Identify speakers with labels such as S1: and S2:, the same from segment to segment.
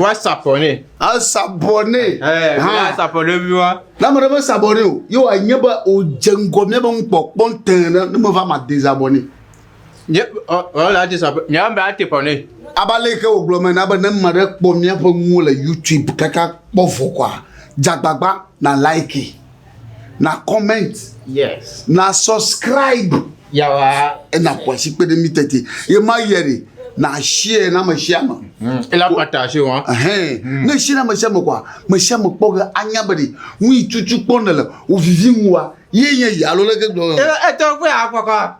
S1: Wa sapɔ nɛ. Asapɔ nɛ. Ɛɛ, wa ah. sapɔ nɛ bi wa. Na mɛ ɖe me sapɔ nɛ o. Ye wa nye be o dze ŋgɔ mía be ŋkpɔkpɔ ŋutɛ ne ne me va ma de sapɔ nɛ. Nye ɔ ɔ la dze sapɔ. Mía be ate pɔ nɛ. Aba le ke o gblɔ mɛ na be ne mɛ ɖe kpɔ mía ƒe nuwo le YouTube kaka kpɔ vɔ kɔa, dzagbagba na like. na comment yes na subscribe yawa ena kwasi kpe ɖe mi tete ye ma yɛ de na share na me share me hmm. ela pata se wa hɛn hmm. ne share na me share me kwa me share me kpɔ ge anya be de ŋu yi tutu kpɔ ne le o vivi ŋu wa ye nye yi alo le ke gblɔ e e to pe akɔkɔ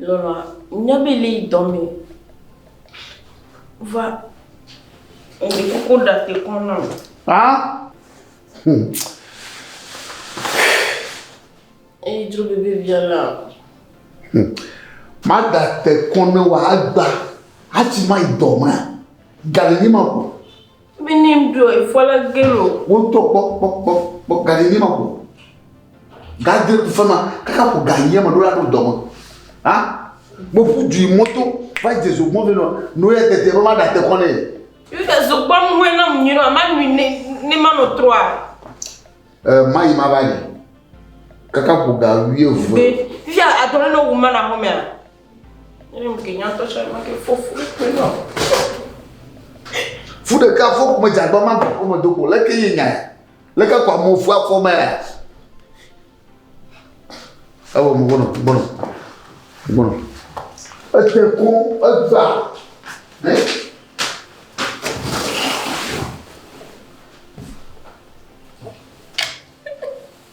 S1: Lɔlɔ̃a, nya be li yi dɔ me va ŋdi koko ɖa te kɔ na o. Ha? Hmm. Eyi dro bebe bia la. Hmm. Ma da te kɔ na wa agba. Ati ma yi dɔ ma. Gale ni ma ko. Minim ɖo ifɔle gelo. Wotɔ kpɔ kpɔ kpɔ kpɔ gani ni ma ko. Gadre ku fema kaka ko ga yema do la do dɔme. Ha? Mo fu ju moto va jesu mo vino no ya tete ba ma da te kone. Yuda zo kpɔ mu hwe na mu nyi no ma nyi ne ne ma no troa. Eh ma yi ma ba ni. Kaka ko ga wie vu. Be ya adore no wu ma na home. Fu ɖeka fɔ kume dzagbã ma gbɔ kɔme do ko leke ye nya leke kwa mo fu afɔ ma ya. Ewo mo bono bono bono. Ete ko egba.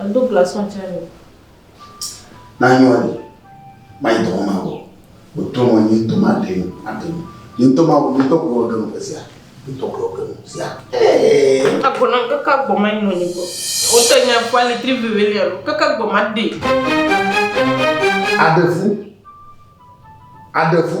S1: Edo glaçon tsɛ le. Nanyɔ le. Mayi dɔwɔ ma wɔ. Wotɔ mɔ nyi ŋutɔ ma ɖe nu aɖe nu. Nyi ŋutɔ ma wɔ ŋutɔ kplɔ ɖe nu sia. Ŋutɔ kplɔ ɖe nu sia. Agbɔna kaka gbɔ ma nyi nɔnyi gbɔ. Wotɔ nya kpa le tri veve le alo kaka gbɔ ma ɖe. Aɖevu. Aɖevu.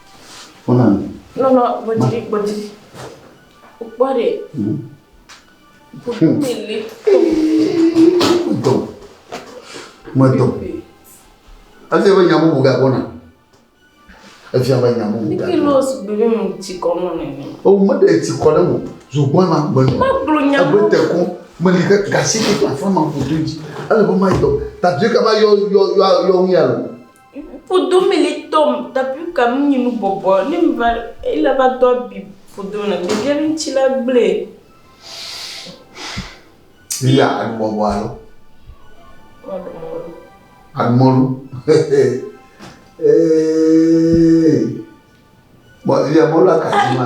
S1: Kpɔna nu. Lɔlɔ, gbɔdzi, gbɔdzi. Kpɔ ɖe. Ƒoƒu mi li. Dɔ. Me dɔ. Efi ebe nya bubu ga gbɔna. Efi ebe nya bubu ga gbɔna. Kilo sugbɔ ɖe mu tsi kɔ nɔ nene. O me ɖe tsi kɔ ɖe mu. Zogbɔn ma gbe nɔ. Magblɔ nya bubu. Ebe te kɔ. Me li ke gasi ke kpa fama ƒodo dzi. Ele be ma dɔ. Tadue kaba yɔ yɔ yɔ yɔ ŋu ya lɔ. Ŋkudo mili tɔm tapi ka mi nyinu bɔbɔ ne mi va ele va do abi fodo na mi gele ŋuti la gble. Iya anu bɔbɔ alo. Anu mɔlu. Ee. Bɔ iya mɔlu akati ma.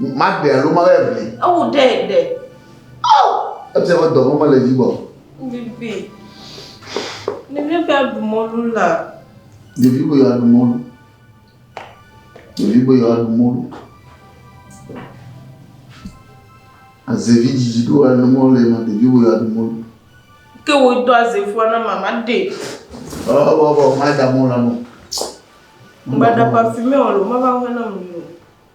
S1: Maɖe alo mawe aʋli. Ewu ɖe ɖe. Oh! Ebia be dɔ mɔmɔ le yibɔ. Bibi. Ɖevi be aɖu mɔlu la. Ɖevi be yewoaɖu mɔlu. Ɖevi be yewoaɖu mɔlu. Azevi dzidzi ɖo aɖu mɔlu le ma ɖevi be yewoaɖu mɔlu. Ke wo do azevua na mama ɖe. Ɔ bɔ bɔ ma da mɔlu la nɔ. Mba da pafi mɛ o lo mama hɔn na mu.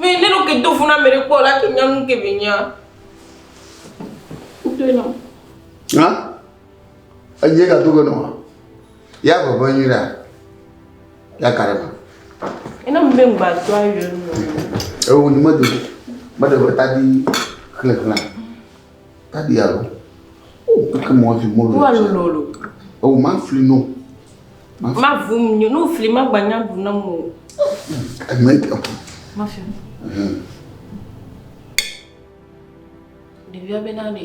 S1: Vɛ ne ɖo ke do fu na ame ɖe kpɔ la ke nya nu ke vɛ nya. Kuto nɔ. Ha? Enye ka do ke nɔ. Ya vɔ vɔ nyi la. Ya ka ɖe ma. Ena mu be ngba do ayo nɔ. Ewo ni me do. Me de vɛ ta di khle khle. Dadi alo. O keke mo afi mo lo. Wa lo lo lo. O ma fli no. Ma vum nyo no fli ma gbanya bu na mo. E me ke. Ma fi. Ɖevia bena ɖe.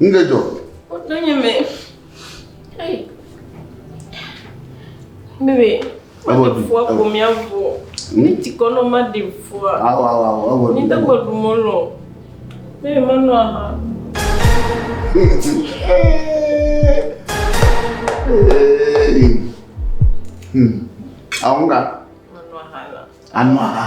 S1: Nu ɖe dzɔ. Wòtɔ nye me. Bebe. Ewɔ du. Fua ko mia vɔ. Mi ti kɔ nɔ ma de fua. Awɔ awɔ awɔ ewɔ du. Mi te kɔ du mɔ lɔ. Bebe ma nɔ aha. Hmm. Àwọn kan. Anọ àhà.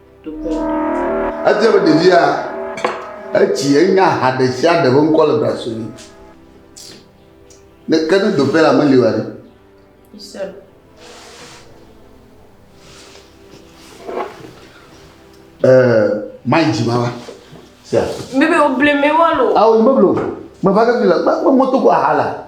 S1: Etia be ɖevia etsi enya ha ɖe sia ɖe ƒe ŋkɔ le brasɔ ne. Ne ke ne doƒe la meli wa ɖe. Eh, mai dzima wa. Sia. Bebe o bleme wa lo. Awo ah, bebe lo. Me va ke fi la, me moto ko ahala.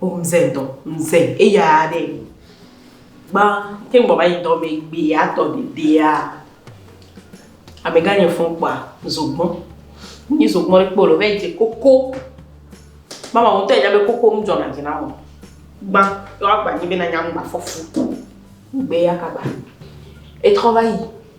S1: O mze dɔ, mze eya ɖe. Gba te ŋgbɔ va yi dɔ me gbe atɔ dedea. Amegã nye fɔn kpa zogbɔ. Ni zogbɔ ɖe kpolo ve je koko. Mama mo te jabe koko m jɔ na jina mo. Gba yo agba ni be na nyam gba fɔfu. Gbe ya kaba. Etrɔ va yi.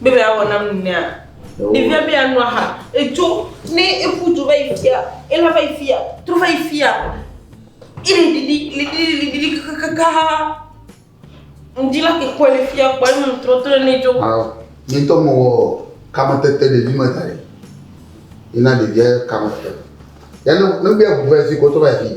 S1: Biblia wɔ nam nunea. Ɖevia be yeano aha. Edzo ne eƒu dzo va yi fia, ela va yi fia, trɔ va yi fia. Ele ɖiɖi, le ɖiɖi, le ɖiɖi kakakakaa. Ŋdi la ke kɔe le fia kpɔ enu trɔ trɔ ne dzo. Awo, mi ŋutɔ mewɔ kametete ɖevi me da ɖi. Yina ɖevia kametete. Ya ne ne be eŋu va yi fi kɔ trɔ va yi fi.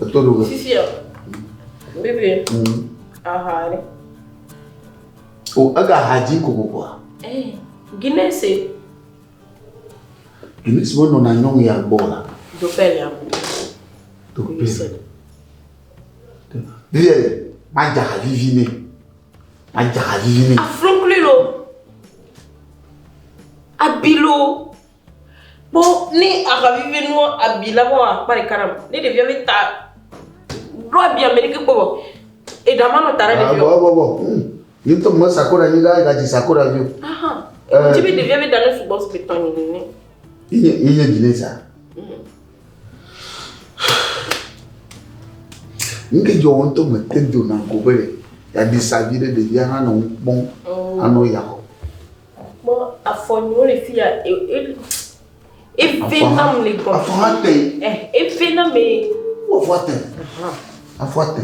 S1: Eto ɖo. Sisia. Bébé. Aha ɖe. O ega ha dzi kokokua. Eh, Guinness. E. Guinness wo nɔ na nyɔnu ya gbɔ la. Do pɛl ya. Do pɛl. Bébé, ma dza ha vivi ne. Ma dza ha vivi ne. Afro klilo. Abilo. Kpɔ ne aha vivi nua abi la vɔ akpa ɖeka nam. Ne ɖevia be ta ɖo abi ame ɖeke kpɔ vɔ. Eɖa ma nɔ ta ɖe ɖevia. Bɔ bɔ bɔ. Hmm. Ni to me sakora ni ga ga ji sakora vio. Aha. Eh. Ti be ɖevia be da ne sugbɔ spe tɔ ni ne. Iye iye ji ne sa. Hmm. Nge jɔ wɔn to me te do na ko be ya di sa vi ɖe ɖevia hã nɔ kpɔn. Oh. Anɔ ya. Mɔ afɔ ni wole fi ya e e efe na mu le gbɔ. Afɔ ha te. Ɛ efe na me. Wo afɔ te. Afɔ te.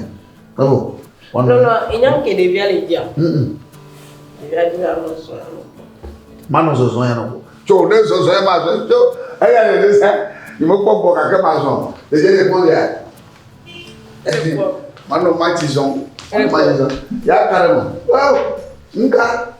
S1: Ebo. Lɔlɔ enya ke ɖevia le dzia. Ɖevia di la lɔ sɔ ya lɔ. Manɔ zɔzɔ ya lɔ. Tso ne zɔzɔ ya ma zɔ tso eya le ne sɛ. Ni mo kpɔ gbɔ kakɛ ma zɔ. Ɖevia le gbɔ ya. Ehe. Manɔ ma ti zɔ. Ma ti zɔ. Ya ka le mo. Wow. Nka.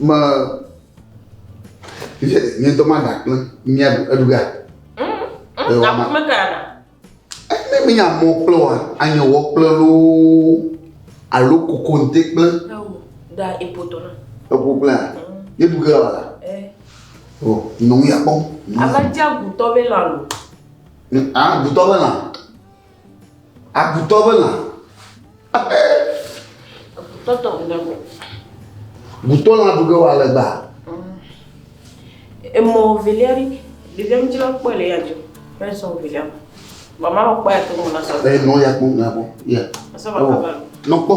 S1: Me fifia nye ŋutɔ ma ɖa kple mia ɖu eɖu ga. Aƒu me ka ɖa. Ne mi nya mɔ kple wa anya wɔ kple loo alo koko nte kple. Da epoto na. Epo kple a. Ye ɖu ga wala. O nɔmi akpɔ. Abaja gutɔ be lalo. A gutɔ be lalo. Agutɔ be lã. Agutɔ tɔ ŋu ɖe Gutɔ lã ɖu ge wa le gba. Emɔ velia ɖi. Ɖevia mi dzra kpɔe le ya dzo. Fɛn sɔ velia. Mama kpɔe to mo na sɔ. Ɛ nɔ ya kpɔ na kpɔ. Ya. Sɔ ba ka ba. Nɔ kpɔ.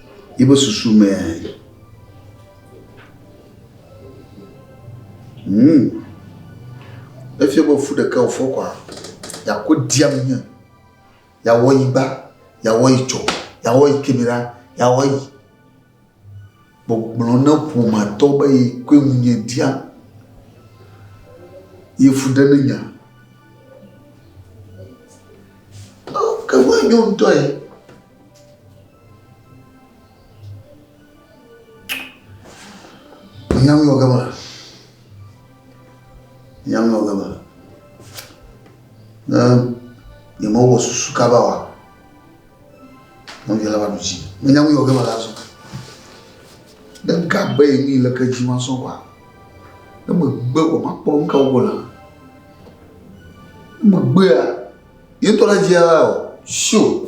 S1: Yiƒe susu mea, ŋu efia be fu ɖeka wòfɔ kɔa, yeakɔ ɖia nu ne yeawɔ yi gba, yeawɔ yi tsɔ, yeawɔ yi keme ɖa, yeawɔ yi. Gbɔgblɔ na ƒomeatɔ be yi koe ŋu nye ɖia ye fu ɖe ne nya. Ke ŋu enyo ŋutɔ ye. Nyamlɔ gama. Nyamlɔ gama. Ne yemewɔ susu kaba wa, nɔvia la va ɖu dzi. Ne nyamlɔ gama la zɔ. Ne gabe yi mi le ke dzi ma sɔ wa. Ne megbe wɔ makpɔ nu ka wɔ la. Ne megbea. Ye ŋutɔ le dzia la o. Sio.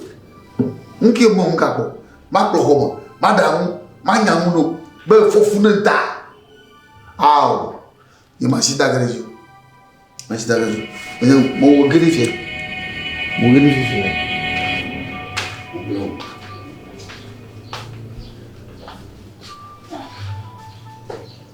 S1: Nu ke mɔ ŋka kpɔ. Makplɔ xɔ me. Maɖa ŋu. Manya ŋu ɖo. Be fofu ne da. Ao. Ye ma si da gere zio. Ma si da gere zio. Menye mo wo gere fie. Mo gere fie fie.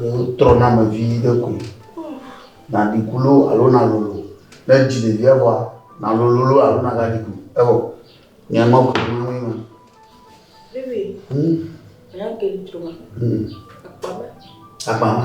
S1: Wotrɔna ame vi ɖe koe. Naɖi ku loo alo nalolo. Ne èdzi ɖevia vɔa, nalolo loo alo nagaɖi ku. Evɔ nye ŋmɔ ke ɖom na woe ma. Vivi, hmm? Nya ke li troma. Hmm. Akpama. Akpama.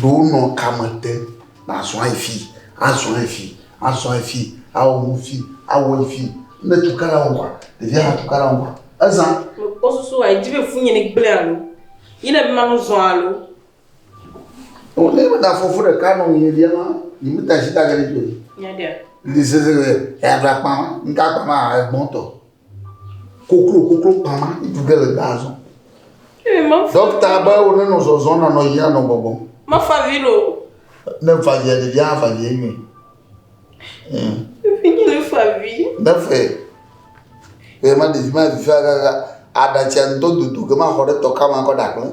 S1: Ɖo nɔ kame te na zɔa yi fi, a zɔa yi fi, a zɔa yi fi, a wɔ nu fi, a wɔ yi fi. Ne tu kala wo wa, ɖevi a tu kala wo wa. Eza. Kpɔ susu wa, edzi be fu nye ne gblẽ alo. Yi ne ma nu zɔ alo. O ne me da fɔfu ɖe ka nɔ nye lia ma, yi me ta shi ta gele gbe. Nya dia. Ndi se se le, ya bla kpa, nka kpa ma egbɔn tɔ. koklo koklo kpama ŋutsu ɖe le gbaa zɔm. Ee, mefa- Ɖɔkta be wonenɔ zɔzɔm nanɔ yiyim anɔ gbɔgbɔm. Mefa vi ɖo. Ne fa via ɖevia hã fa vi enyuie. Ee. Efi nye ne fa vi. Ne fe. Eye ma ɖevi ma vi fa kakaa aɖatsia ŋdɔ dodo ke ma xɔ ɖe tɔ kama kɔ ɖakple.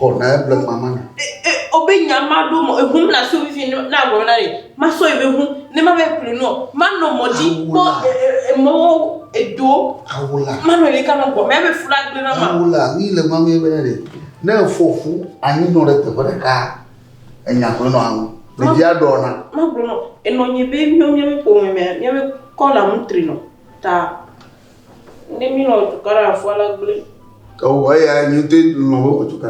S1: Xɔ na eble ma ma na. E, e, obe nya ma ɖo mɔ ehum na so vivi na agblɔ na ye. Ma so ebe hu ne ma be kple no. Ma no mɔ di kpɔ e, e, e mɔ edo. Awula. Ma no le kama gbɔ. Ma be fula gbe na ma. Awula ni le ma me be ne. Ne fofu anyi no le te bere ka. Enya kwe no awu. Le dia do na. Ma gbɔ no. Enɔ nyi be mi mi mi po me mi mi kɔ la mutri no. Ta. Ne mi lɔ tuka ɖe afɔ la gblẽ. Ewɔ eya nyi te lɔ wo tuka.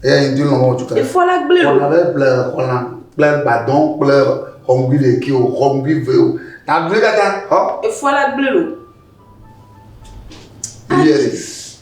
S1: Eya nyi te lɔ wo tuka. Efɔ la gblẽ. Wala be ble xɔla kple gbadɔn kple xɔmbi le ki o xɔmbi ve o. Na gbe kaka. Efɔ la gblẽ lo. Yes.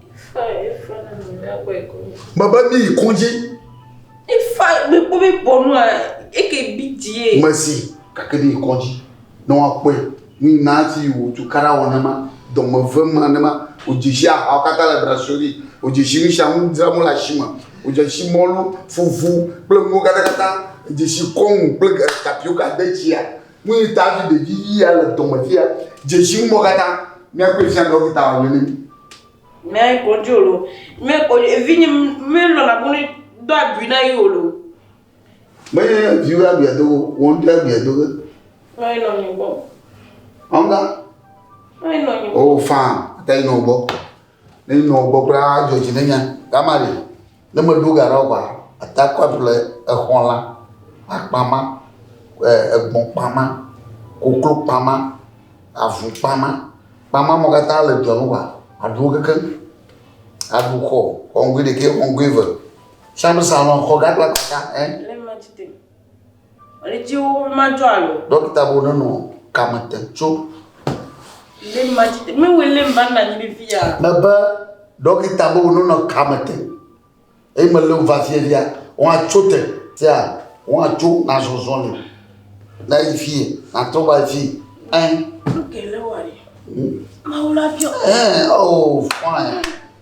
S1: Mebe mi yi kɔdzi. Ifa gbogbo bi bɔnu a eke bi die. Mesi kake bi yi kɔdzi. Ne wa kpɔe ni na ti wo tu kara wa nama dɔme ve ma nama o jeshi a ha kata le brasori o jeshi mi sha mu dra mu la shima o jeshi mɔlu fufu kple ŋgo kata kata jeshi kɔŋu kple tapioka de tsia. Nu yi ta hafi ɖevi ʋi ya le dɔme fia. Dzesi ŋumɔ katã. Míakpɔe fia ɖɔkita wòle nɛ. Mɛ kɔdzi wòle o. Mɛ kɔdzi evinye melɔ̃ na bone do agui na yi wòle o. Menye viwo ya aguia do o, wò ŋutɔ ya aguia do ge. Nɔ anyi nɔ nye gbɔ. Ɔnga? Nɔ anyi nɔ nye gbɔ. O faa, ata yi nɔ gbɔ. Ne yi nɔ gbɔ kura adzɔ dzi ne nya. Gamari. Ne meɖo ga ɖe ɔgba ata kɔ aɖu le exɔ la akpa ma egbɔ kpa ma koklo kpa ma avu kpa ma kpa ma mo katã le dua me wa aɖu keke aɖu xɔ xɔŋgui ɖekɛ xɔŋgui eve siame salon xɔ gã kple kpa gã ɛ. Ɣletiwo madzɔ alo. Ɖɔkita bo nenɔ kame te tso. Lé madzi te. Mewɔe lé mba nna nyi ɖe via. Mebe ɖɔkita bo nenɔ kame te. Eye mele wo va fie via. Wọ́n atso te. Fia wọ́n atso na zɔzɔ le. Na yi fie. Na tɔ va yi fie. Ɛn. Nuke lé wɔ yi. Mawu la biɔ. Ɛn. Oh, fine.